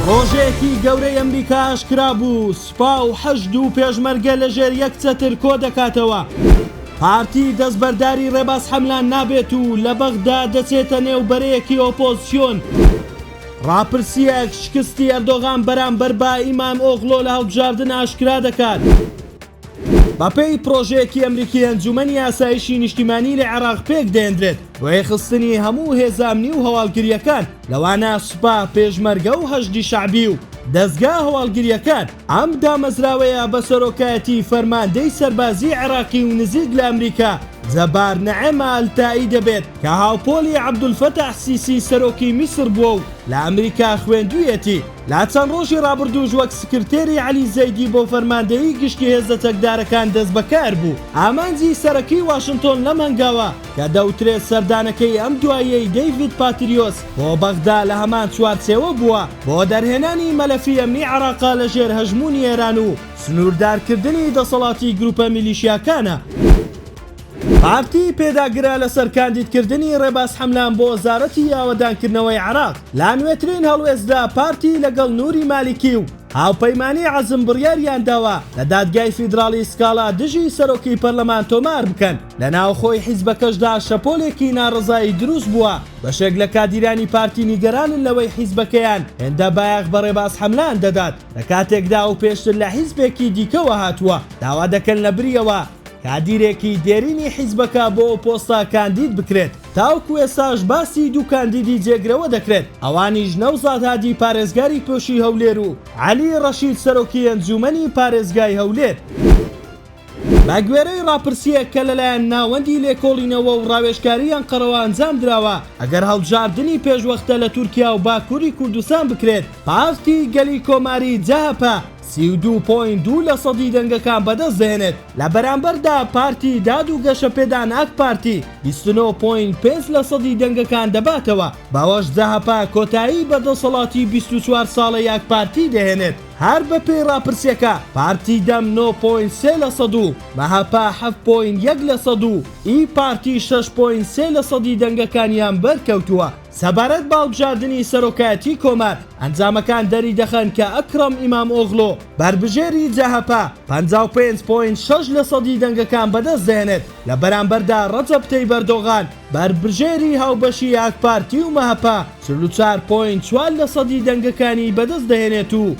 ڕۆژەیەکی گەورەی ئەمریکا ئاشکرا بوو، سوپا و حەشد و پێشمەرگە لە ژێر یەک چەتر کۆ دەکاتەوە. پارتی دەستبەرداری ڕێباز حەملان نابێت و لە بەغدا دەچێتە نێو بەرەیەکی ئۆپۆزسیۆن. ڕاپرسییەک شکستی ئەردۆغان بەرامبەر بە ئیمام ئۆغلۆ لە هەڵبژاردن ئاشکرا دەکات. بەپێی پڕۆژەیەکی ئەمریکی ئەنجومەنی ئاسایشی نیشتیمانی لە عێراق پێک دەێنرێت بۆ یەخستنی هەموو هێزامنی و هەواڵگریەکان لەوانە سوپا پێشمەرگە و هەشدی شعبی و دەزگا هەواڵگریەکان ئەم دامەزراوەیە بە سەرۆکایەتی فەرماندەی سەربازی عێراقی و نزیک لە ئەمریکا جەبار نەعێمە ئەلتائی دەبێت کە هاوپۆلی عەبدولفەتاح سیسی سەرۆکی میسر بووە و لە ئەمریکا خوێندوویەتی لە چەند ڕۆژی ڕابردووش وەک سکرتێری عەلی زەیدی بۆ فەرماندەیی گشتی هێزە چەکدارەکان دەستبەکار بوو. ئامانجی سەرەکیی واشنتۆن لەم هەنگاوە، کە دەوترێت سەردانەکەی ئەم دواییەی دەیڤید پاتریۆس بۆ بەغدا لە هەمان چوارچێوە بووە بۆ دەرهێنانی مەلەفی ئەمنی عێراقە لە ژێر هەژموونی ئێران و سنووردارکردنی دەسەڵاتی گرووپە میلیشیاکانە. پارتی پێداگرە لەسەر کاندیدکردنی ڕێباز حەملان بۆ وەزارەتی ئاوەدانکردنەوەی عێراق، لە نوێترین هەڵوێستدا پارتی لەگەڵ نوری مالیکی و هاوپەیمانانی عەزم بڕیاریانداوە لە دادگای فیدراڵی سکاڵا دژی سەرۆکی پەرلەمان تۆمار بکەن. لە ناوخۆی حیزبەکەشدا شەپۆلێکی ناڕەزایی دروستبووە، بەشێک لە کادیرانی پارتی نیگەرانن لەوەی حیزبەکەیان هێندە بایەخ بە ڕێباز حەملان دەدات، لە کاتێکدا ئەو پێشتر لە حیزبێکی دیکەوە هاتووە داوا دەکەن لەبریەوە کادیرێکی دێرینی حیزبەکە بۆ ئەو پۆستە کاندید بکرێت، تاوەکو ئێستاش باسی دوو کاندیدی جێگرەوە دەکرێت، ئەوانیش نەوزاد هادی پارێزگاری پۆشی هەولێر و عەلی ڕەشید سەرۆکی ئەنجوومەنی پارێزگای هەولێر. بەگوێرەی ڕاپرسییەک کە لەلایەن ناوەندی لێکۆڵینەوە و ڕاوێژکاری ئەنقەرەوە ئەنجام دراوە، ئەگەر هەڵبژاردنی پێشوەختە لە تورکیا و باکووری کوردستان بکرێت، پارتی گەلی کۆماری، جەهەپە، سی و دوو پۆینت دوو لە سەدی دەنگەکان بەدەست دەهێنێت، لە بەرامبەردا پارتی داد و گەشەپێدان ئاک پارتی بیست و نۆ پۆینت پێنج لە سەدی دەنگەکان دەباتەوە، بەوەش جەهەپە کۆتایی بە دەسەڵاتی بیست و چوار ساڵەی ئاک پارتی دەهێنێت، هەر بەپێی راپرسیەکە پارتی دەم نۆ پۆینت سێ لە سەد و مەهەپە حەفت پۆینت یەک لە سەد و ئی پارتی شەش پۆینت سێ لە سەدی دەنگەکانیان بەرکەوتووە. سەبارەت بە هەڵبژاردنی سەرۆکایەتیی کۆمار، ئەنجامەکان دەریدەخەن کە ئەکرەم ئیمامئۆغلۆ، بەربژێری جەهەپە، پەنجا و پێنج پۆینت شەش لەسەدی دەنگەکان بەدەستدەهێنێت، لە بەرامبەردا رەجەب تەیب ئەردۆغان، بەربژێری هاوبەشی ئاکپارتی و مەهەپە، چل و چوار پۆینت چوار لەسەدی دەنگەکانی بەدەستدەهێنێت و،